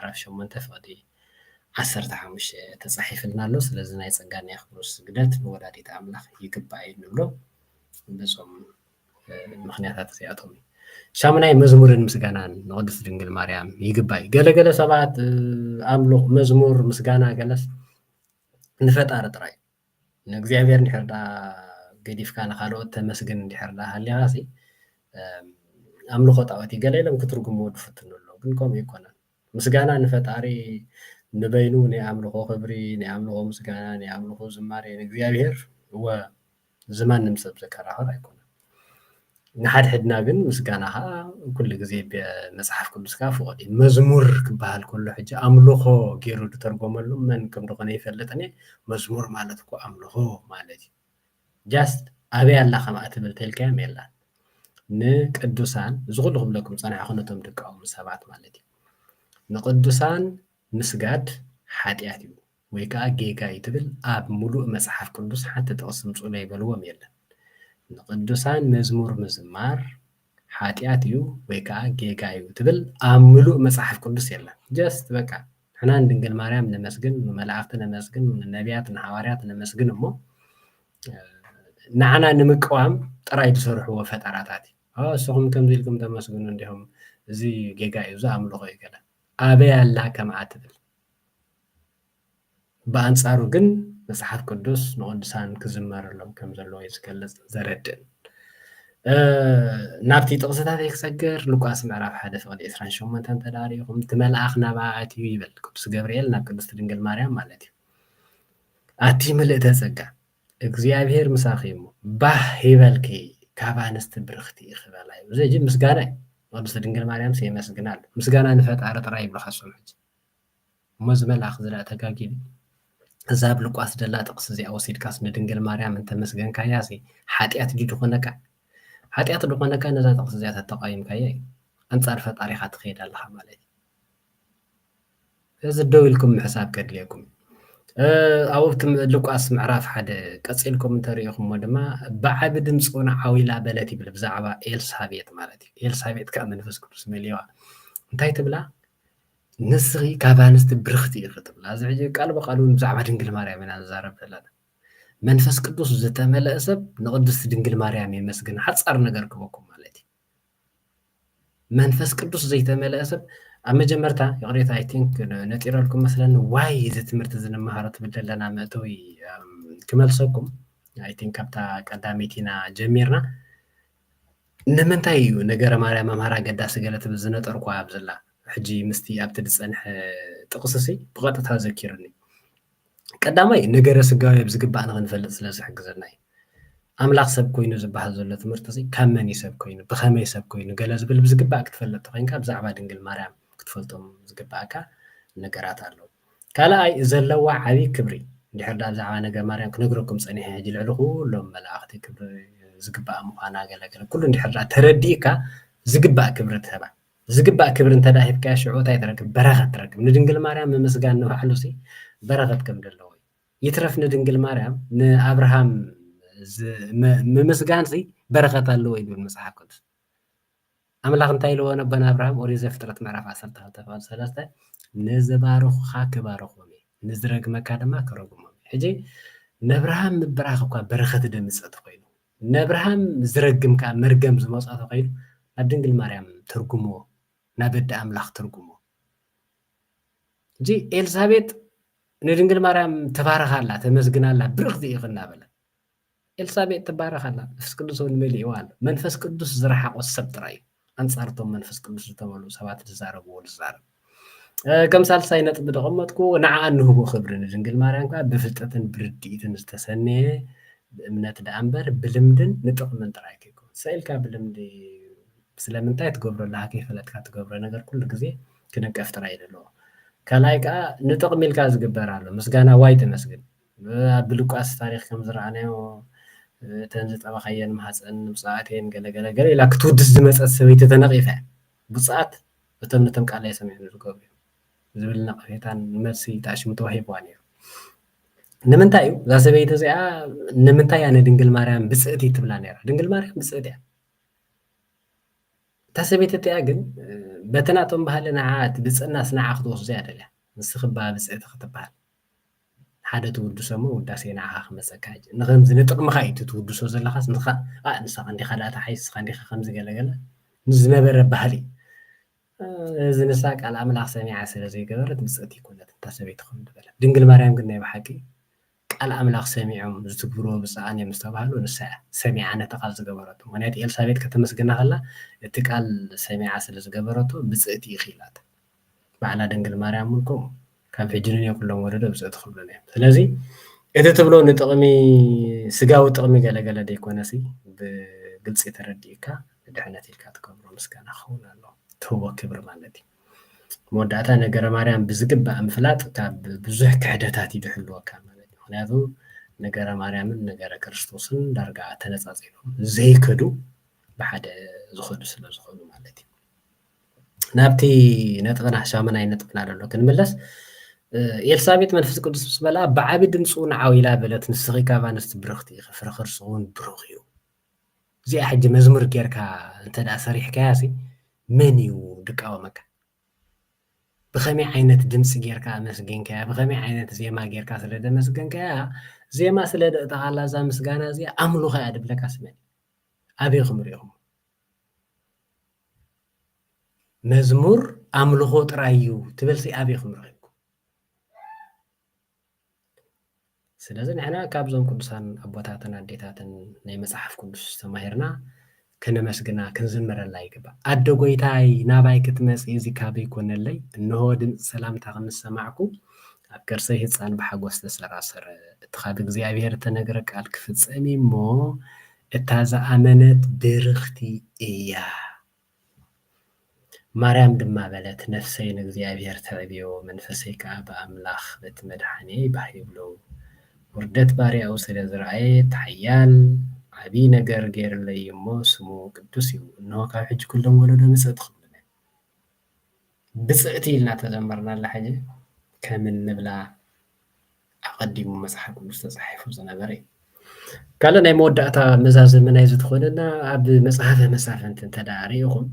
ምዕራፍ ሸሞንተ ፍቕዲ ዓሰርተ ሓሙሽተ ተጻሒፍልና ኣሎ ስለዚ ናይ ጸጋን የክብሮስ ስግደት ንወላዲት ኣምላኽ ይግባኣ እዩ ንብሎ በዞም ምክንያታት እዚኣቶም እዩ ሻሙናይ መዝሙርን ምስጋናን ንቅድስት ድንግል ማርያም ይግባይ ገለገለ ሰባት ኣምልኽ መዝሙር ምስጋና ገለስ ንፈጣሪ ጥራይ ንእግዚኣብሔር እንድሕር ደኣ ገዲፍካ ንኻልኦት ተመስግን እንድሕር ደኣ ሃሊኻሲ ኣምልኾ ጣኦት እዩ ገለ ኢሎም ክትርጉምዎ ዝፍትኑ ኣለዉ ግን ከምኡ ኣይኮነን ምስጋና ንፈጣሪ ንበይኑ ናይ ኣምልኾ ክብሪ ናይ ኣምልኾ ምስጋና ናይ ኣምልኾ ዝማሬ ንእግዚኣብሔር እወ ዝማንም ሰብ ዘከራኽር ኣይኮነን ንሓድሕድና ግን ምስጋና ኸኣ ኩሉ ግዜ መጽሓፍ ቅዱስካ ፍቑድ እዩ። መዝሙር ክበሃል ከሎ ሕጂ ኣምልኾ ገይሩ ዝተርጎመሉ መን ከም ዝኾነ ኣይፈልጥን እየ። መዝሙር ማለት እኮ ኣምልኾ ማለት እዩ። ጃስት ኣበይ ኣላ ከምኣ ትብል ተልካዮም የላን። ንቅዱሳን እዚ ኩሉ ክብለኩም ዝጸናሕኩ ነቶም ድቃውም ሰባት ማለት እዩ ንቅዱሳን ምስጋድ ሓጢኣት እዩ ወይ ከኣ ጌጋ እዩ ትብል ኣብ ሙሉእ መጽሓፍ ቅዱስ ሓንቲ ጥቅሲ ምጹለይ በልዎም የለን ንቅዱሳን መዝሙር ምዝማር ሓጥያት እዩ ወይ ከኣ ጌጋ እዩ ትብል ኣብ ምሉእ መጽሓፍ ቅዱስ የለን ጀስት በቃ ንሕና ንድንግል ማርያም ነመስግን ንመላእክቲ ነመስግን ንነብያት ንሓዋርያት ነመስግን እሞ ንዓና ንምቅዋም ጥራይ ዝሰርሕዎ ፈጠራታት እዩ እሱኹም ከምዚ ኢልኩም ተመስግኑ እንዲኹም እዚ ጌጋ እዩ እዚ ኣምልኾ እዩ ገለ ኣበይ ኣላ ከምኣ ትብል ብኣንጻሩ ግን መጽሓፍ ቅዱስ ንቅዱሳን ክዝመረሎም ከም ዘለዎ እዩ ዝገልጽን ዘረድእን። ናብቲ ጥቕስታተይ ክሰግር ሉቃስ ምዕራፍ ሓደ ፍቕዲ ዕስራን ሸሞንተን እንተድኣ ርኢኹም እቲ መልኣኽ ናብኣ ኣትዩ ይብል ቅዱስ ገብርኤል ናብ ቅድስቲ ድንግል ማርያም ማለት እዩ ኣቲ ምልእተ ጸጋ እግዚኣብሄር ምሳኺ እሞ ባህ ይበልኪ ካብ ኣንስቲ ብርኽቲ ኢኺ በላ ይብሉ እዚ ምስጋና እዩ ቅድስቲ ድንግል ማርያምስ የመስግና ኣሎ ምስጋና ንፈጣሪ ጥራይ ይብሉ ካሶም ሕጂ እሞ ዝመልኣኽ ዝርኣ ተጋጊሉ እዛ ኣብ ሉቃስ ደላ ጥቅሲ እዚኣ ወሲድካስ ንድንግል ማርያም እንተ መስገንካያሲ ሓጥያት ድዩ ድኾነካ ሓጥያት ድኾነካ ነዛ ጥቅሲ እዚኣ ተተቃዊምካያ እዩ ኣንጻር ፈጣሪኻ ትኸይድ ኣለኻ ማለት እዩ እዚ ደው ኢልኩም ምሕሳብ ከድልየኩም እዩ ኣብቲ ሉቃስ ምዕራፍ ሓደ ቀፂልኩም እንተሪኢኹሞ ድማ ብዓቢ ድምፂ እውን ዓዊላ በለት ይብል ብዛዕባ ኤልሳቤጥ ማለት እዩ ኤልሳቤጥ ከዓ መንፈስ ቅዱስ መሊዋ እንታይ ትብላ ንስኺ ካብ ኣንስቲ ብርኽቲ ኢኺ ትብል ኣብዚ ሕጂ ቃል ብቃል እውን ብዛዕባ ድንግል ማርያም ኢና ንዛረብ ዘለና መንፈስ ቅዱስ ዝተመለአ ሰብ ንቅድስቲ ድንግል ማርያም የመስግን ሓፃር ነገር ክበኩም ማለት እዩ መንፈስ ቅዱስ ዘይተመለአ ሰብ ኣብ መጀመርታ ይቕሬታ ኣይ ቲንክ ነጢረልኩም መስለኒ ዋይ እዚ ትምህርቲ እዚ ንመሃሮ ትብል ዘለና መእተዊ ክመልሰኩም ኣይ ቲንክ ካብታ ቀዳመይቲ ኢና ጀሚርና ንምንታይ እዩ ነገረ ማርያም ኣምሃር ኣገዳሲ ገለ ትብል ዝነጠርኩዋ ኣብዝላ ሕጂ ምስቲ ኣብቲ ዝጸንሐ ጥቕስሲ ብቐጥታ ዘኪሩኒ ቀዳማይ ነገረ ስጋዊ ብዝግባእ ንኽንፈልጥ ስለ ዝሕግዘና እዩ ኣምላኽ ሰብ ኮይኑ ዝበሃል ዘሎ ትምህርቲ እዚ ካብ መን እዩ ሰብ ኮይኑ ብኸመይ ሰብ ኮይኑ ገለ ዝብል ብዝግባእ ክትፈልጥ ተኮይንካ ብዛዕባ ድንግል ማርያም ክትፈልጦም ዝግባእካ ነገራት ኣለዉ ካልኣይ ዘለዋ ዓቢ ክብሪ እንድሕር ድኣ ብዛዕባ ነገ ማርያም ክነግረኩም ጸኒሐ ሕጂ ልዕሊ ኩሎም መላእኽቲ ክብሪ ዝግብኣ ምዃና ገለ ገለ ኩሉ እንድሕር ድኣ ተረዲእካ ዝግባእ ክብሪ ትህባ ዝግባእ ክብሪ እንተ ድኣ ሂብካያ ሽዑ እንታይ ትረክብ በረኸት ትረክብ ንድንግል ማርያም ምምስጋን ንባዕሉ ሲ በረኸት ከም ደለዎ እዩ ይትረፍ ንድንግል ማርያም ንኣብርሃም ምምስጋን ሲ በረኸት ኣለዎ ይብል መጽሓፍ ቅዱስ ኣምላኽ እንታይ ኢልዎ ነቦ ንኣብርሃም ኦሪት ዘፍጥረት ምዕራፍ ዓሰርተ ክልተ ቁፅሪ ሰለስተ ንዝባርኹኻ ክባርኾም እየ ንዝረግመካ ድማ ክረግሞም እየ ሕጂ ነብርሃም ምብራኽ እኳ በረኸት ደምፀ ተኮይኑ ነብርሃም ዝረግም ከዓ መርገም ዝመፆ ተኮይኑ ናብ ድንግል ማርያም ትርጉሞ ናብ ኣደ ኣምላኽ ትርጉሞ ሕጂ ኤልሳቤጥ ንድንግል ማርያም ተባርኻ ኣላ ተመስግና ኣላ ብርኽቲ ኢኺ እናበለ ኤልሳቤጥ ትባረኽ ኣላ መንፈስ ቅዱስ ውን መሊእዋ ኣሎ መንፈስ ቅዱስ ዝረሓቖ ሰብ ጥራይ እዩ ኣንጻር እቶም መንፈስ ቅዱስ ዝተመልኡ ሰባት ዝዛረብዎ ዝዛረብ ከም ሳልሳይ ነጥቢ ዘቐመጥኩ ንዓኣ እንህቦ ክብሪ ንድንግል ማርያም ከዓ ብፍልጠትን ብርድኢትን ዝተሰነየ ብእምነት ደኣ እምበር ብልምድን ንጥቕምን ጥራይ ከይኮን ሰኢልካ ብልምዲ ስለምንታይ ትገብሮ ኣለካ ከይፈለጥካ ትገብሮ ነገር ኩሉ ግዜ ክንቀፍ ጥራይ እዩ ዘለዎ ካልኣይ ከዓ ንጥቕሚ ኢልካ ዝግበር ኣሎ ምስጋና ዋይ ተመስግን ኣብ ብሉቃስ ታሪኽ ከም ዝረኣናዮ እተን ዝጠባኻየን ማህጸን ንብጹኣት እየን ገለ ገለ ገለ ኢላ ክትውድስ ዝመጸት ሰበይቲ ተነቒፋ እያ። ብጹኣት እቶም ነቶም ቃለይ ሰሚዖም ዝገብሩ እዮም ዝብል ነቐፌታን መልሲ ተኣሽሙ ተዋሂብዋ ነይሩ። ንምንታይ እዩ እዛ ሰበይቲ እዚኣ ንምንታይ እያ ንድንግል ማርያም ብጽእቲ ትብላ ነይራ? ድንግል ማርያም ብጽእቲ እያ። እታ ሰበይቲ እቲኣ ግን በቲ ናቶም ባህሊ ንዓኣ እቲ ብፅእናስ ንዓ ክትወስዶ እያ ደልያ ንስኺ እባ ብፅእቲ ክትበሃል ሓደ ትውድሶ እሞ ውዳሴ ንዓኻ ክመጸካ ሕጂ ንኸምዚ ንጥቕምኻ እዩ እቲ ትውድሶ ዘለኻስ ንኻ ኣእ ንስኻ እንዲኻ ደኣ ተሓይስ ንስኻ እንዲኻ ከምዚ ገለ ገለ ምስ ዝነበረ ባህሊ እዚ ንሳ ቃል ኣምላኽ ሰሚዓ ስለ ዘይገበረት ብጽእቲ ይኮነት እታ ሰበይቲ ከም ዝበለት ድንግል ማርያም ግን ናይ ብሓቂ ቃል ኣምላኽ ሰሚዖም ዝትግብርዎ ብፅኣን እዮም ዝተባህሉ ንሳ እያ ሰሚዓ ነቲ ቃል ዝገበረቶ ምክንያቱ ኤልሳቤጥ ከተመስግና ከላ እቲ ቃል ሰሚዓ ስለ ዝገበረቶ ብፅእቲ ኢኺ ኢላታ ባዕላ ድንግል ማርያም ውን ከምኡ ካብ ሕጂ ንንየ ኩሎም ወለዶ ብጽእቲ ክብሉኒ እዮም ስለዚ እቲ ትብሎ ንጥቕሚ ስጋዊ ጥቕሚ ገለ ገለ ደይኮነሲ ብግልጺ ተረዲእካ ንድሕነት ኢልካ ትገብሮ ምስጋና ክኸውን ኣለዎ ትህቦ ክብሪ ማለት እዩ መወዳእታ ነገረ ማርያም ብዝግባእ ምፍላጥ ካብ ብዙሕ ክሕደታት እዩ ዝሕልወካ ማለት እዩ ምክንያቱ ነገረ ማርያምን ነገረ ክርስቶስን ዳርጋ ተነጻጺሎም ዘይከዱ ብሓደ ዝኸዱ ስለ ዝኾኑ ማለት እዩ ናብቲ ነጥብና ሻመናይ ነጥብና ደሎ ክንምለስ ኤልሳቤጥ መንፈስ ቅዱስ ምስ በላ ብዓቢ ድምፂ እውን ዓው ኢላ በለት ንስኺ ካብ ኣንስቲ ብርኽቲ ኢኺ ፍረ ከርሲ እውን ብሩኽ እዩ እዚኣ ሕጂ መዝሙር ጌርካ እንተ ደኣ ሰሪሕካያ ሲ መን እዩ ድቃወመካ ብኸመይ ዓይነት ድምፂ ጌርካ ኣመስገንካያ ብኸመይ ዓይነት ዜማ ጌርካ ስለ ደመስገንካያ ዜማ ስለ ደእተኻላ እዛ ምስጋና እዚኣ ኣምልኾ እያ ድብለካ ስመን ኣበይኹም ሪኢኹም መዝሙር ኣምልኾ ጥራይ እዩ ትበልሲ ኣበይኩም ረኺብኩም? ስለዚ ንሕና ካብዞም ቅዱሳን ኣቦታትን ኣዴታትን ናይ መጽሓፍ ቅዱስ ተማሂርና ከነመስግና ክንዝምረላ ይግባእ። ኣደ ጎይታይ ናባይ ክትመጽ እዚ ካበይ ኮነለይ እንሆ ድምፂ ሰላምታ ክንሰማዕኩ ኣብ ከርሰይ ህፃን ብሓጎስ ተሰራሰረ እቲ ካብ እግዚኣብሔር እተነግረ ቃል ክፍጸም እሞ እታ ዝኣመነት ብርኽቲ እያ። ማርያም ድማ በለት፣ ነፍሰይ ንእግዚኣብሔር ተዕብዮ፣ መንፈሰይ ከኣ ብኣምላኽ በቲ መድሓንየይ ባህ ይብሎ፣ ውርደት ባርያኡ ስለ ዝረኣየ፣ እቲ ሓያል ዓቢይ ነገር ገይርለይ እዩ'ሞ፣ ስሙ ቅዱስ እዩ። እንሆ ካብ ሕጂ ኩሎም ወለዶ ምጽእቲ ክብሉኒ። ብፅዕቲ ኢልና ተዘመርናላ ሕጂ ከም እንብላ ኣቀዲሙ መጽሓፍ ቅዱስ ተጻሒፉ ዝነበረ እዩ ካልእ ናይ መወዳእታ መዛዘሚ ናይዚ ትኾነና ኣብ መጽሓፈ መሳፍንቲ እንተ ርኢኹም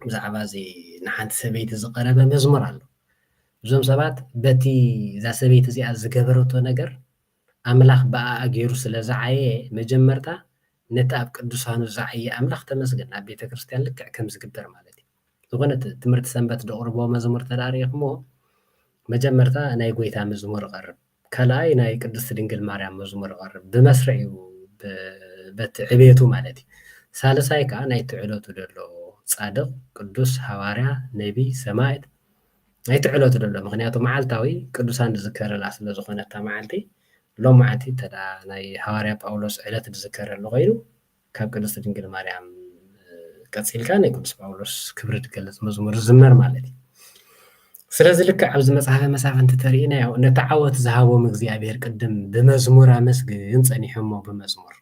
ብዛዕባ እዚ ንሓንቲ ሰበይቲ ዝቐረበ መዝሙር ኣሎ እዞም ሰባት በቲ እዛ ሰበይቲ እዚኣ ዝገበረቶ ነገር ኣምላኽ ብኣኣ ጌሩ ስለ ዝዓየ መጀመርታ ነቲ ኣብ ቅዱሳኑ ዝዓየ ኣምላኽ ተመስገን ኣብ ቤተክርስትያን ልክዕ ከም ዝግበር ማለት እዩ ዝኾነ ትምህርቲ ሰንበት ዘቕርቦ መዝሙር ተደኣ ርኢኽሞ መጀመርታ ናይ ጎይታ መዝሙር እቐርብ ካልኣይ ናይ ቅድስት ድንግል ማርያም መዝሙር እቐርብ ብመስርዕ እዩ በቲ ዕቤቱ ማለት እዩ ሳልሳይ ከኣ ናይቲ ዕለቱ ዘሎ ጻድቕ ቅዱስ ሃዋርያ ነቢይ ሰማዕት ናይቲ ዕለቱ ደሎ ምክንያቱ መዓልታዊ ቅዱሳን ዝዝከረላ ስለ ዝኾነት እታ መዓልቲ ሎማዓንቲ እንተ ናይ ሃዋርያ ጳውሎስ ዕለት ዝዝከረሉ ኮይኑ ካብ ቅድስቲ ድንግል ማርያም ቀፂልካ ናይ ቅዱስ ጳውሎስ ክብሪ ዝገልፅ መዝሙር ዝዝመር ማለት እዩ ስለዚ ልክዕ ኣብዚ መፅሓፈ መሳፍንቲ ተርእናዮ ነቲ ዓወት ዝሃቦም እግዚኣብሄር ቅድም ብመዝሙር ኣመስግን ፀኒሖሞ ብመዝሙር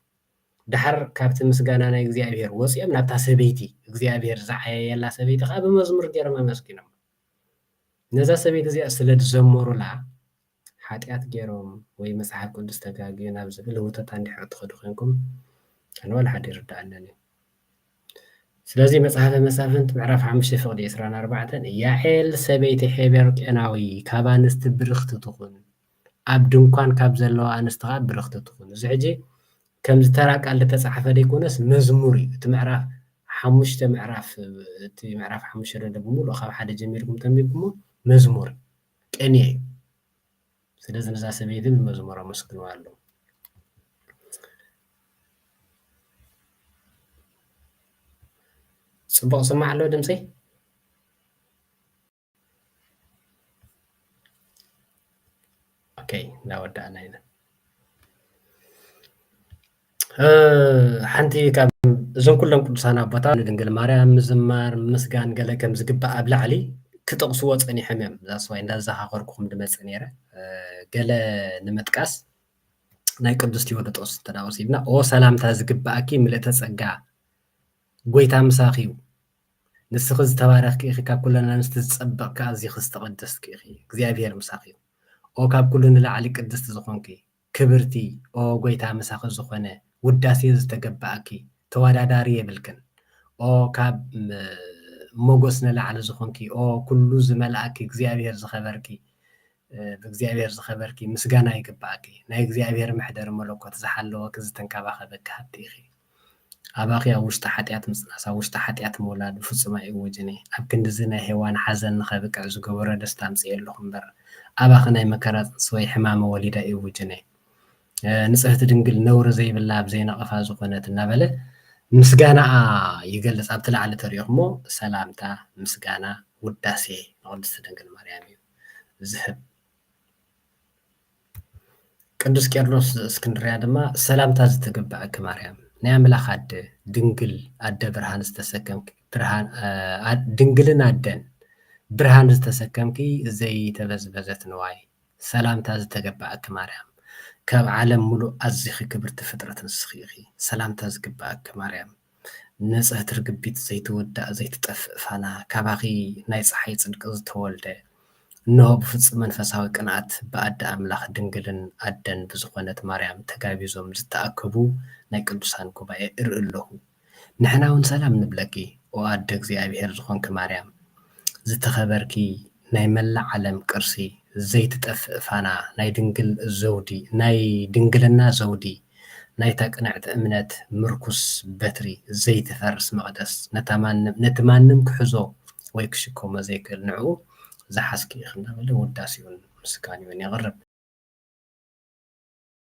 ደሓር ካብቲ ምስጋና ናይ እግዚኣብሄር ወጺኦም ናብታ ሰበይቲ እግዚኣብሄር ዝዓየየላ ሰበይቲ ከኣ ብመዝሙር ገይሮም ኣመስጊኖማ። ነዛ ሰበይቲ እዚኣ ስለ ዝዘመሩላ ሓጢኣት ገይሮም ወይ መጽሓፍ ቅዱስ ተጋግዩ ናብ ዝብል ህውተታ እንድሕር እትኸዱ ኮንኩም ኣነ ዋላ ሓደ ይርድኣንን እዩ። ስለዚ መጽሓፈ መሳፍንት ምዕራፍ ሓሙሽተ ፍቕዲ ዕስራን ኣርባዕተን ያዔል ሰበይቲ ሔቤር ቄናዊ ካብ ኣንስቲ ብርኽቲ ትኹን ኣብ ድንኳን ካብ ዘለዋ ኣንስቲ ከኣ ብርኽቲ ትኹን። እዚ ሕጂ ከምዚ ተራ ቃል ዝተጻሕፈ ደይኮነስ መዝሙር እዩ። እቲ ምዕራፍ ሓሙሽተ ምዕራፍ እቲ ምዕራፍ ሓሙሽተ ደሎ ብምሉኡ ካብ ሓደ ጀሚርኩም ተንቢብኩሞ መዝሙር እዩ። ቅኔ እዩ። ስለዚ ነዛ ሰበይቲ ብመዝሙር ኣመስግንዋ ኣለው። ጽቡቕ ዝስማዕ ኣሎ ድምጺ? ኦከይ እናወዳእና ኢና ሓንቲ ካብ እዞም ኩሎም ቅዱሳን ኣቦታት ንድንግል ማርያም ምዝማር ምስጋን ገለ ከም ዝግባእ ኣብ ላዕሊ ክጠቕስዎ ፀኒሖም እዮም ዛስዋይ እንዳዘኻኸርኩኹም ድመፅእ ነይረ ገለ ንምጥቃስ ናይ ቅዱስ ቴዎዶጦስ ተዳወሲድና ኦ ሰላምታ ዝግባእኪ ምልእተ ፀጋ ጎይታ ምሳኺ እዩ ንስኺ ዝተባረኽኪ ኢኺ ካብ ኩለን ኣንስቲ ዝጸበቕኪ ኣዚኺ ዝተቐደስትኪ ኢኺ እግዚኣብሄር ምሳኺ ይኹን ኦ ካብ ኩሉ ንላዕሊ ቅድስቲ ዝኾንኪ ክብርቲ ኦ ጎይታ ምሳኺ ዝኾነ ውዳሴ ዝተገበኣኪ ተወዳዳሪ የብልክን ኦ ካብ ሞጎስ ንላዕሊ ዝኾንኪ ኦ ኩሉ ዝመልኣኪ እግዚኣብሄር ዝኸበርኪ ብእግዚኣብሔር ዝኸበርኪ ምስጋና ይግበኣኪ ናይ እግዚኣብሔር መሕደሪ መለኮት ዝሓለወኪ ዝተንከባኸበኪ ሃብቲ ኢኺ ኣባኺ ኣብ ውሽጢ ሓጢኣት ምጽናስ፣ ኣብ ውሽጢ ሓጢኣት ምውላድ ብፍጹም ኣይእወጅን እየ። ኣብ ክንድዚ ናይ ሄዋን ሓዘን ንኸብቅዕ ዝገበሮ ደስታ ኣምጺኤ ኣለኹ እምበር፣ ኣባኺ ናይ መከራ ጽንሲ ወይ ሕማመ ወሊድ ኣይእውጅን እየ። ንጽህቲ ድንግል ነውሪ ዘይብላ ኣብ ዘይነቐፋ ዝኾነት እናበለ ምስጋናኣ ይገልጽ። ኣብቲ ላዕሊ ተሪእኹሞ ሰላምታ፣ ምስጋና፣ ውዳሴ ንቕድስቲ ድንግል ማርያም እዩ ዝህብ። ቅዱስ ቄርሎስ ዘእስክንድርያ ድማ ሰላምታ ዝተገበኣኪ ማርያም ናይ ኣምላኽ ኣደ ድንግል ኣደ ብርሃን ዝተሰከምኪ ድንግልን ኣደን ብርሃን ዝተሰከምኪ ዘይተበዝበዘት ንዋይ ሰላምታ ዝተገበኣኪ ማርያም ካብ ዓለም ምሉእ ኣዚኺ ክብርቲ ፍጥረት ንስኺ ኢኺ ሰላምታ ዝግበኣኪ ማርያም ንጽህቲ ርግቢት ዘይትውዳእ ዘይትጠፍእ ፋና ካባኺ ናይ ጸሓይ ጽድቂ ዝተወልደ እንሆ ብፍጹም መንፈሳዊ ቅንኣት ብኣደ ኣምላኽ ድንግልን ኣደን ብዝኾነት ማርያም ተጋቢዞም ዝተኣከቡ ናይ ቅዱሳን ጉባኤ እርኢ ኣለኹ ንሕና ውን ሰላም ንብለኪ ኦ ኣደ እግዚኣብሔር ዝኾንኪ ማርያም ዝተኸበርኪ ናይ መላእ ዓለም ቅርሲ ዘይትጠፍእ ፋና ናይ ድንግል ዘውዲ ናይ ድንግልና ዘውዲ ናይታ ቅንዕቲ እምነት ምርኩስ በትሪ፣ ዘይትፈርስ መቕደስ፣ ነታ ማንም ነቲ ማንም ክሕዞ ወይ ክሽከሞ ዘይክእል ንዕኡ ዝሓዝኪ ኢኺ እንዳበለ ውዳሴኡን ምስጋንኡን የቕርብ።